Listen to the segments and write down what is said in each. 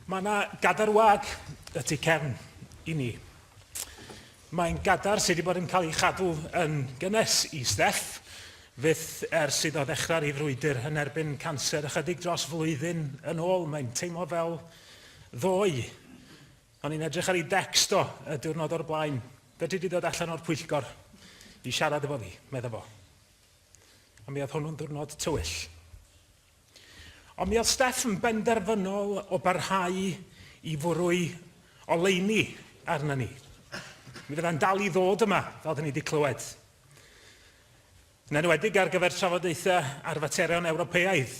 Mae yna gadar wag y tu cefn i ni. Mae'n gadar sydd wedi bod yn cael ei chadw yn gynnes i Steff fyth ers iddo ddechrau'r ei frwydr yn erbyn canser ychydig dros flwyddyn yn ôl. Mae'n teimlo fel ddoe. O'n i'n edrych ar ei dext o y diwrnod o'r blaen. Fedri di ddod allan o'r pwyllgor i siarad efo fi, medda fo. A mi oedd hwnnw'n ddiwrnod tywyll. Ond mi oedd Steff yn benderfynol o barhau i fwrw'i oleuni arna ni. Mi fyddai'n dal i ddod yma, fel dyn ni wedi clywed. Yn enwedig ar gyfer trafodaethau ar faterion Ewropeaidd,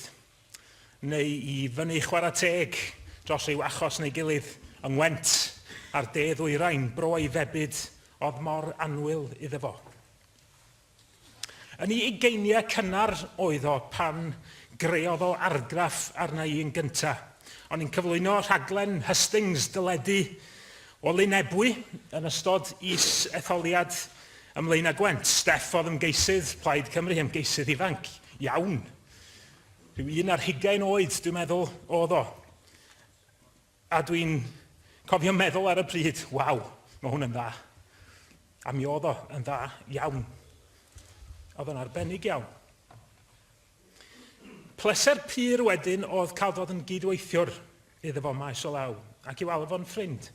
neu i fyny chwarae teg dros ryw achos neu gilydd yng Ngwent a'r de ddwyrain, bro ei febyd oedd mor annwyl iddo fo. Yn ei ugeiniau cynnar oedd o pan greodd o argraff arna i yn gynta. O'n i'n cyflwyno rhaglen hustings deledu o Lyn Ebwy yn ystod is-etholiad ym Mlaenau Gwent. Steff oedd ymgeisydd Plaid Cymru, ymgeisydd ifanc iawn. Rhyw un ar hugain oed, dwi'n meddwl, oedd o. A dwi'n cofio meddwl ar y pryd, 'waw, mae hwn yn dda'. A mi oedd o yn dda iawn. Oedd o'n arbennig iawn. Pleser pur wedyn oedd cael dod yn gydweithiwr iddo fo maes o law, ac i'w alw fo'n ffrind.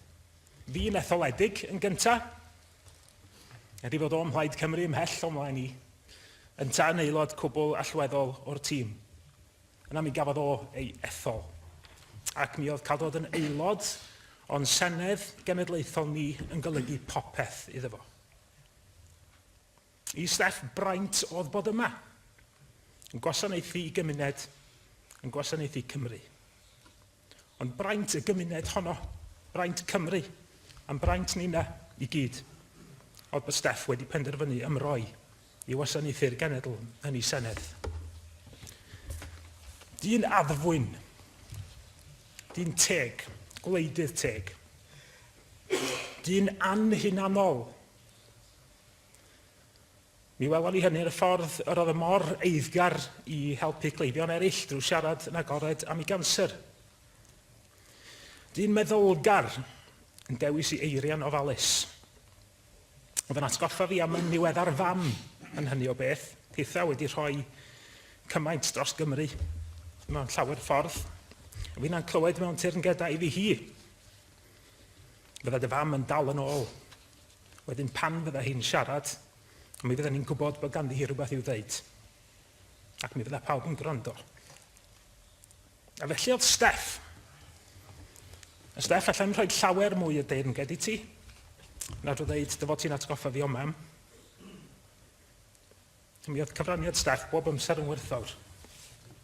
Fi'n etholedig yn gynta, er i fod o'm mhlaid Cymru ymhell o'm mlaen i, yntau yn aelod cwbl allweddol o'r tîm. Yna mi gafodd o ei ethol, ac mi oedd cael dod yn aelod o'n Senedd Genedlaethol ni yn golygu popeth iddo fo. I Steff braint oedd bod yma, yn gwasanaethu i gymuned, yn gwasanaethu Cymru. Ond braint y gymuned honno, braint Cymru, a'n braint ni 'na i gyd, oedd bod Steff wedi penderfynu ymroi i wasanaethu'r genedl yn ei senedd. Dyn addfwyn, dyn teg, gwleidydd teg, dyn anhunanol, Mi welon ni hynny yn y ffordd yr oedd y mor eiddgar i helpu cleifion eraill drwy siarad yn agored am ei ganser. Dyn meddylgar yn dewis i eiriau'n ofalus. Oedd yn atgoffa fi am yn niweddar fam yn hynny o beth, pethau wedi rhoi cymaint dros Gymru mewn llawer ffordd. Fi'n a'n clywed mewn teyrngedau i fi hi. Fydda dy fam yn dal yn ôl. Wedyn pan fydda hi'n siarad, mi fydda ni'n gwybod bod ganddi hi rhywbeth i'w ddeud. Ac mi fydda pawb yn gwrando. A felly oedd Steff. A Steff, allai'n rhoi llawer mwy o deyrnged i ti. Na drwy ddeud, dy fod ti'n atgoffa fi o mam. Mi oedd cyfraniad Steff bob amser yn werthfawr.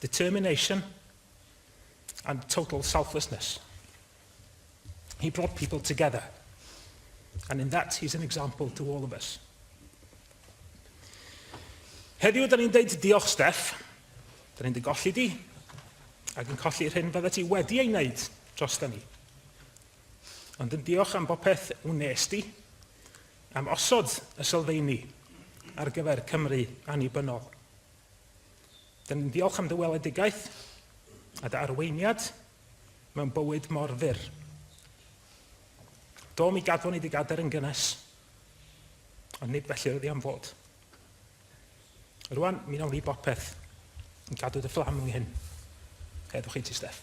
determination, and total selflessness. He brought people together. And in that, he's an example to all of us. Heddiw, da ni'n deud diolch, Steph. Da ni'n dy golli di, ac yn colli'r hyn fydda ti wedi ei wneud dros da ni. Ond yn diolch am bopeth wnes di, am osod y sylfeini ar gyfer Cymru annibynnol. Dyn ni'n diolch am dy weledigaeth a dy arweiniad mewn bywyd mor fyr. Do, mi gadwon ni dy gader yn gynnes, ond nid felly oedd i am fod. Rwan, mi nawn ni bopeth yn cadw dy fflam yng nghyn. Heddwch i ti, Steff.